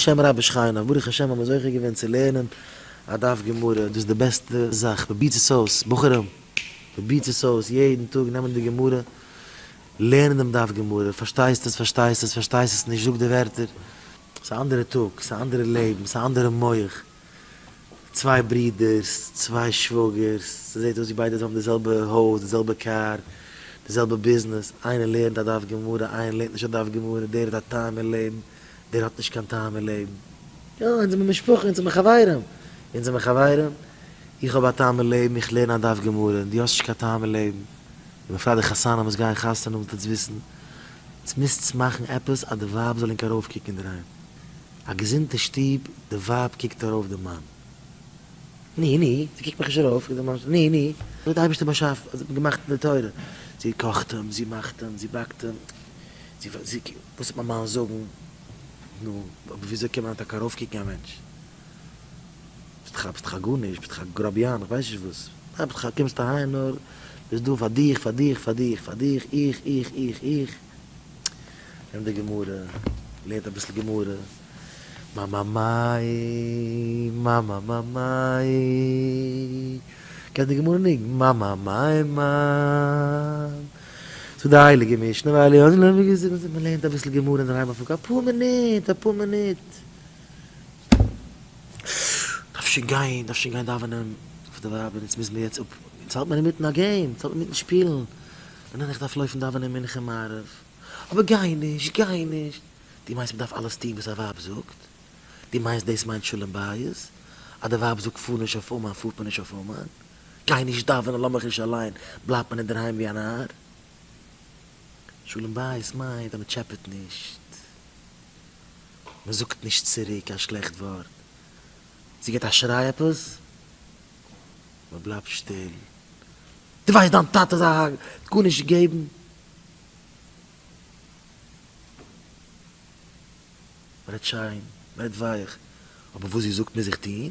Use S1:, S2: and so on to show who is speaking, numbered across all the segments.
S1: בשם רבי שכיינא, ברוך השם האבן מיר זוכה געווען צו לערנען א דף גמרא, דאס איז די בעסטע זאך, פרובירטס עס אויס בחורים, פרובירטס עס אויס, יעדן טאג נעמען די גמרא, לערנען דעם דף גמרא, פארשטייסט עס, פארשטייסט עס, פארשטייסט עס נישט, זאג די ווערטער, ס'איז א אנדערע טאג, ס'איז א אנדערע לעבן, ס'איז א אנדערע מח, צוויי ברידערס, צוויי שוואגערס, ס'זעט אויס ווי ביידע האבן די זעלבע הויז, די זעלבע קאר, די זעלבע ביזנעס, איינער לערנט א דף גמרא, איינער לערנט נישט א דף גמרא, דער האט א טעם אין לעבן, דער האט נישט קיין טעם אין לעבן. יא, אונז זעמיר משפחה, אונז זעמיר חברים. אונז זעמיר חברים. איך האב א טעם אין לעבן, איך לערן א דף גמרא, און דו האסט נישט קיין טעם אין לעבן. און בפרט די חתנים וואס גייען חתונה האבן זאלטס וויסן, עטס מוזטס מאכן עפעס אז די ווייב זאל ענק ארויפקוקן אינדערהיים. א געזונטע שטוב, די ווייב קוקט ארויף די מאן. ני ני, זי קוקט מיך נישט ארויף, קוקט די מאן, ני ני. אזוי האט די אייבערשטער באשאפן, אזוי האט מען געמאכט אין די תורה. זי קאכט אים, זי מאכט אים, זי באקט אים. זי פרעגט זיך, וואס וועט מיין מאן זאגן? נו, אבער וויאזוי קען מען טאקע ארויפקוקן א מענטש? ביסט דאך א ביסט דאך א גארנישט, ביסט דאך א גראביאן, איך ווייס נישט וואס. דיין פתח, קומסט אהיים נאר, ביסט דא פאר דיך, פאר דיך, פאר דיך, פאר דיך, איך, איך, איך, איך. נעם די גמרא, לערנט אביסל גמרא. מאמאמיי, מאמאמאמיי. קענסט די גמרא ניגון? מאמאמיי, מאמ. צו די הייליגע משנה ווייל איר האט נישט ווי געזאגט אז מען לערנט אביסל גמרא אינדערהיים אויף אפאר מינוט אפאר מינוט דארף שוין גיין דארף שוין גיין דאווענען אויף די ווייב און יעצט מוז מען יעצט אפ יעצט האלט מען אינמיטן א געים יעצט האלט מען אינמיטן שפילן ניין איך דארף לויפן דאווענען מנחה און מעריב אבער גיי נישט גיי נישט דו מיינסט מען דארף אלעס טון וואס א ווייב זאגט? דו מיינסט דאס מיינט שלום בית אז די ווייב זאגט פאר נישט אויף אומאן פארט מען נישט אויף אומאן? גיי נישט דאווענען לאמיך נישט אליין, בלייבט מען אינדערהיים ווי א נאר? שלום בית מיינט אז מען טשעפעט נישט, מען זאגט נישט צוריק קיין שלעכט ווארט, זי גיט א שריי עפעס, מען בלייבט שטיל, דו ווייסט דיין טאטע איז א האק, גארנישט געבן, מען רעדט שיין, מען רעדט ווייך, אבער וואס זי זאגט מוז איך טון,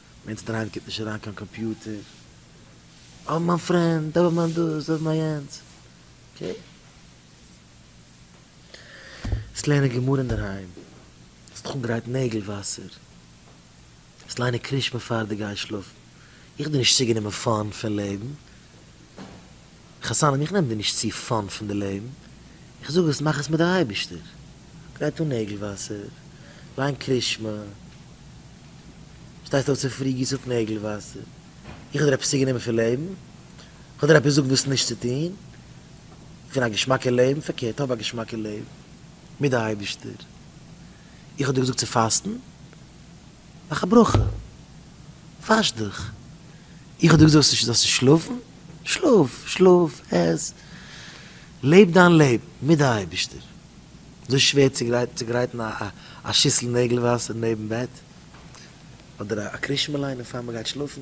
S1: ווען סטראנג קומט נישט אריין קיין קאמפיוטער, אוי מיין פרענד, אוי מיין דאס, אוי מיין יענץ, אקעי. עס לערנען גמרא אינדערהיים, עס האט אפגעגרייט נעגל וואסער, עס ליינען קרישמע פאר די גיין שלאפן, איך האב דיר נישט צוגענומען פאן פון לעבן, חתנים איך נעם דיר נישט צו פאן פון די לעבן, איך זאג עס מאך עס מיט די אייבערשטער, גרייט אן נעגל וואסער, ליין קרישמע, שטייסט אויף צו פרי גיס אפ נעגל וואסער, איך האב דיר עפעס צוגענומען פון לעבן? איך האב דיר עפעס געזאגט וואס נישט צו טון פון א געשמאקע לעבן? פארקערט האב א געשמאקע לעבן מיט די אייבערשטער, איך האב דיר געזאגט צו פאסטן? מאך א ברכה, וואש דיך, איך האב דיר געזאגט אז דו זאלסט נישט שלאפן? שלאף, שלאף, עס, לעב דיין לעבן מיט די אייבערשטער. אזוי שווער צו גרייטן א שיסל נעגל וואסער נעבן בעט, אדער א קרישמעליין בעפאר מען גייט שלאפן?